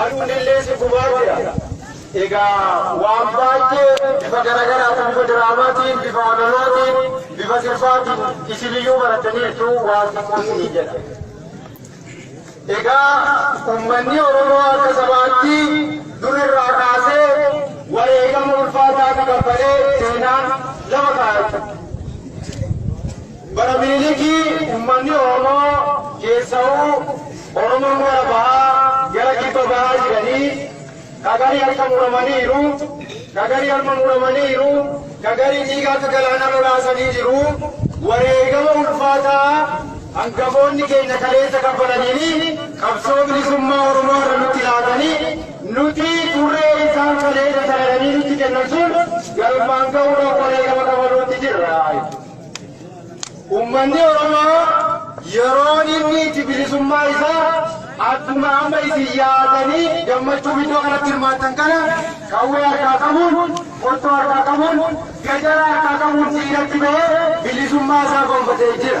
Aduunillee si gubaa jira. Egaa waan baay'ee bifa garaagaraatiin bifa diraamaatiin, bifa amalootiin, bifa sirbaatiin isiniyyuu barattaniirtu waan xiqqoo isinii jedha. Egaa uummanni Oromoo akka sabaatti dur irraa kaasee wareegama ulfaataa kaffalee seenaan lafa kaa'e. Bara Miniliki ummanni Oromoo keessawuu Oromoon gara bahaa gara kibba bahaa jiranii ka garii harka muramaniiru, ka garii harma muramaniiru, ka garii dhiiga akka galaanaa lolaasanii jiru. Wareegama ulfaataa hangafoonni keenya kaleessa kaffalaniin qabsoo bilisummaa Oromoo irra nutti laatanii nuti turree isaan kaleessa saladanii nutti kennan sun galmaan ga'uudhaaf wareegama kafaluutti jirra. Ummanni Oromoo yeroon inni itti bilisummaa isaa akkuma amma isin yaadanii gammachuuf iddoo kanatti hirmaattan kana qawwee harkaa qabuun, qottoo harkaa qabuun, gajara harkaa qabuun diinatti ba'ee bilisummaa isaa gonfatee jira.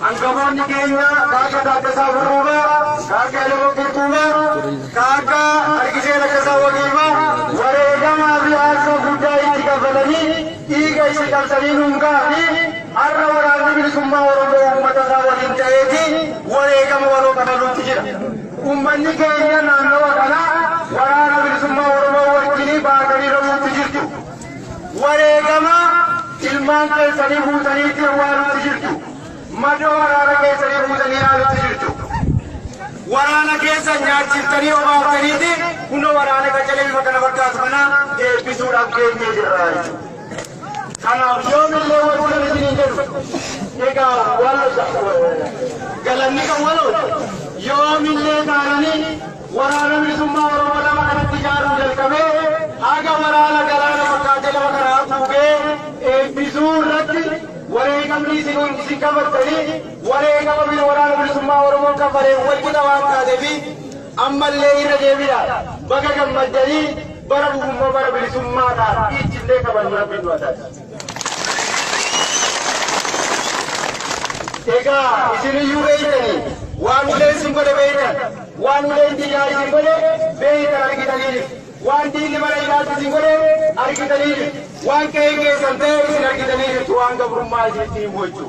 Hangafoonni keenya ka akka Taaddasaa Birruufaa, ka akka Elemoo Qilxuufaa, ka akka Argisee Laggasaa Waqiifaa wareegamaa fi aarsoo guddaa itti kaffalanii dhiiga itti cabsanii nuun gahanii har'a Waraanni Bilisummaa Oromoo uummata isaa waliin ta'eeti wareegama waloo kafaluutti jira. Uummanni keenya naannawa kanaa Waraana Bilisummaa Oromoo wajjinii baatanii loluutti jirtu. Wareegama ilmaan keessanii fuutanii itti awwaaluutti jirtu. Madoo waraana keessanii fuutanii ilaaluutti jirtu. Waraana keessa nyaachiftanii obaaftaniiti kunoo waraana qacalee bifa kana fakkaatu kana eebbisuudhaaf geenyee jirra jechuudha. Kanaaf yoomillee warri kan isiniin jedhu egaa waan galanni kan walooti yoomillee taananii Waraana Bilisummaa Oromoo lafa kanatti ijaaruu jalqabee haga waraana galaana fakkaatee lafa kana haguugee eebbisuu irratti wareegamni isin isin kafartanii wareegama biyya waraana bilisummaa Oromoon kafaleen wal qixa waan taateefi ammallee irra deebina baga gammaddanii bara dhufummoo bara bilisummaadhaan itti illee kabajnu rabbiin nu haa taasisu. Egaa isin iyyuu beektanii waan uleen isin godhe beektan, waan uleen diinaa isin godhe beektan argitaniinis, waan diinni mana hidhaatti isin godhe argitaniinis, waan qe'een keessan ta'e isin argitanii jirtu, waan gabrummaa isinitti hin wayyu.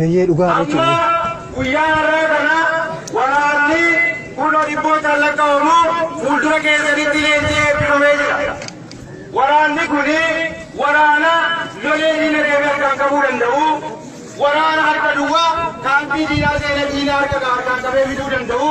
Eeyyee dhugaa Amma jechuudha. guyyaa har'aa kana waraanni kunoo dhibbootaan lakkaa'amu fuuldura keessanitti leenjii eebbifamee jira. Waraanni kun waraana lolee diina deemee harkaan qabuu danda'u, waraana harka duwwaa kaampii diinaa seenee diina harka harkaan qabee fiduu danda'u,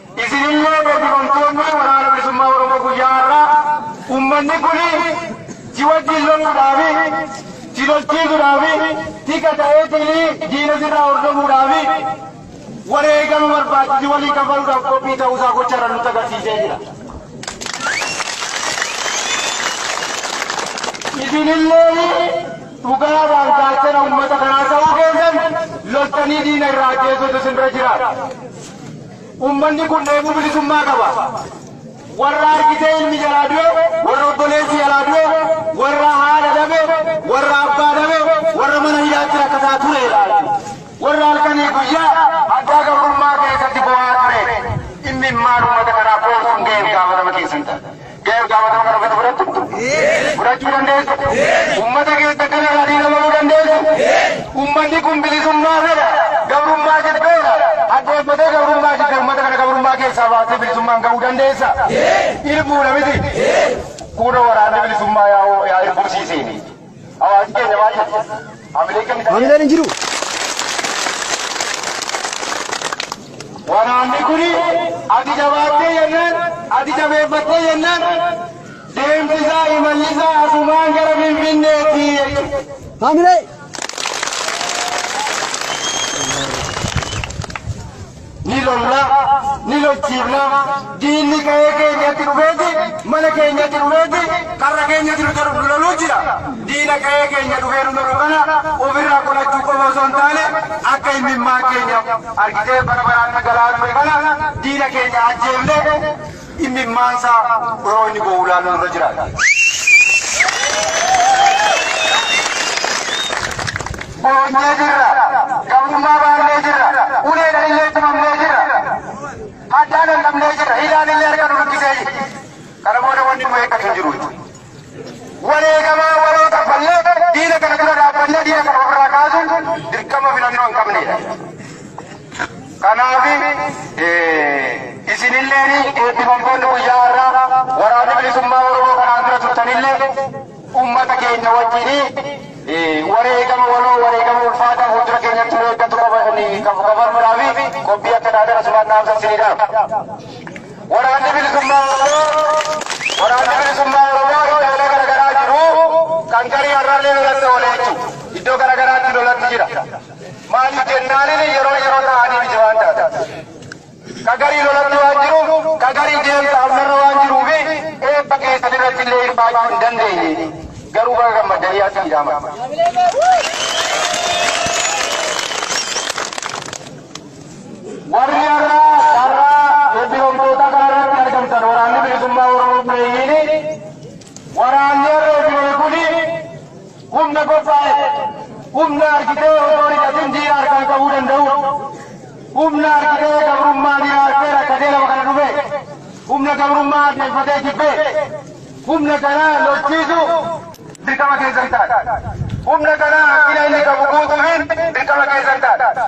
Isin illee eebbifamtoonni Waraana Bilisummaa Oromoo guyyaa har'aa uummanni kun si wajjin loluudhaaf, si lolchiisuudhaaf, tika ta'eetii diina sirraa hordofuudhaaf wareegama barbaachisu si waliin kaffaluudhaaf qophii ta'uu isaa gocharra nutti agarsiisee jira. Isin illee dhugaadhaan gaachana uummata kanaa ta'uu keessan loltanii diina irraa ajjeesuutu isin bira jira. Ummanni kun dheebuu bilisummaa qaba. Warra argitee ilmi jalaa du'e, warra obboleessi jalaa du'e, warra haadha dhabe, warra abbaa dhabe, warra mana hidhaatti rakkataa ture ilaali. Warra halkanii guyyaa haddaa gabrummaa keessatti bo'aa ture. Immimmaan ummata kanaa qoorsuun gahee fi gaafatama keessan ta'a. Gahee itti gaafatama kana fudhatu fudhattu? Fudhachuu dandeessu? Ummata keessa kana irraa dhiiga bahuu dandeessu? Ummanni kun bilisummaa fedha, gabrummaa jibbeera. Hadheeffatee gabrummaa jibbe ummata kana gabrummaa keessaa baastee bilisummaan gahuu dandeessa? Irbuudha miti? Kunoo waraanni bilisummaa yaa irbuu sii seene. Hawaasi keenya maal jedhe? Hamilee keenya maal Hamileen hin jiru. Waraanni kun ati jabaattee jennaan, ati jabeeffattee jennaan, deemsisaa imallisaa asumaan gara Finfinneetti jechuudha. Hamilee. Ni lolla, ni lolchiifna, diinni qa'ee keenyatti dhufeeti, mana keenyatti dhufeeti, karra keenyatti nu tar- nu loluu jira. Diina qa'ee keenya dhufee nu lolu kana ofirraa qolachuu qofa osoo hin taane akka immimmaan keenya argitee bara baraan dhangala'aa dhufe kana diina keenya ajjeefne Immimmaansaa yeroo inni boo'u ilaaluun irra jiraata. Boonyee jirra, gabrummaa baannee jirra, uleedhaan illee tumamnee jirra, hadhaan dhandhamnee jirra, hidhaan illee harka nu luqqisee jira. Kana booda wanni nu eeggatu hin jiru. Wareegama waloo kaffallee diina kana dura dhaabbannee diina kana ofirraa kaasuun dirqama filannoo hin qabneedha. Kanaaf isinillee eebbifamtoonni guyyaa har'aa waraana bilisummaa Oromoo kanaan dura turtanillee uummata keenya wajjin wareegama waloo wareegama ulfaataa fuuldura keenyatti nu eeggatu qabanuudhaaf qophii akka taatan asumaan dhaamsa isiniidhaaf. Waraanni Bilisummaa Oromoo Waraanni Bilisummaa Oromoo iddoolee garagaraa jiru kan garii har'allee lolatti oolee jechuudha. Iddoo garagaraatti lolatti jira. Maaliif jennaanin yeroo yeroo ta'anii miti waan taate. Ka garii lolatti waan jiru, ka garii deemsa amnarra waan jiruu fi eebba keessan irratti illee hirmaachuu hin dandeenye. Garuu baga gammaddanii as fiidaaman. Warri har'a carraa ebbifamtootaa kanarratti argamtan waraanni bilisummaa Oromoo buleeyyiin waraanni har'a ebbifame kun humna qophaa'e humna argitee osoo hidhatin diina harkaan qabuu danda'u humna argitee gabrummaa diina harkee rakkatee lafa kana dhufe humna gabrummaa adeemfatee jibbee humna kana lolchiisu dirqama keessan ta'a. Humna kana hanqina inni qabu guutuun dirqama keessan ta'a.